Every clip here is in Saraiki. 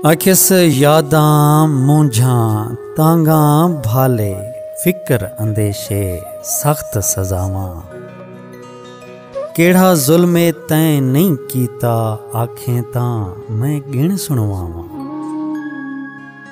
آکھیس یاداں مونجھاں تانگاں بھالے فکر اندیشے سخت سزاواں کیڑھا ظلم تیں نہیں کیتا آکھیں تاں میں گن سنواواں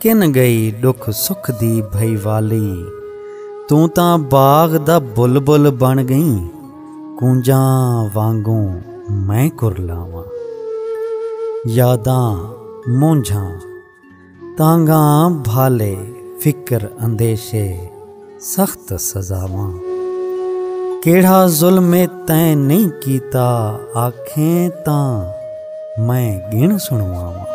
کن گئی ڈکھ سکھ دی بھئی والی توں تاں باغ دا بلبل بن گئیں کونجاں وانگوں میں کرلاواں یاداں مونجھاں تانگھاں بھالے فکر اندیشے سخت سزاواں کیڑھا ظلم تیں نہیں کیتا آکھیں تاں میں گن سنواواں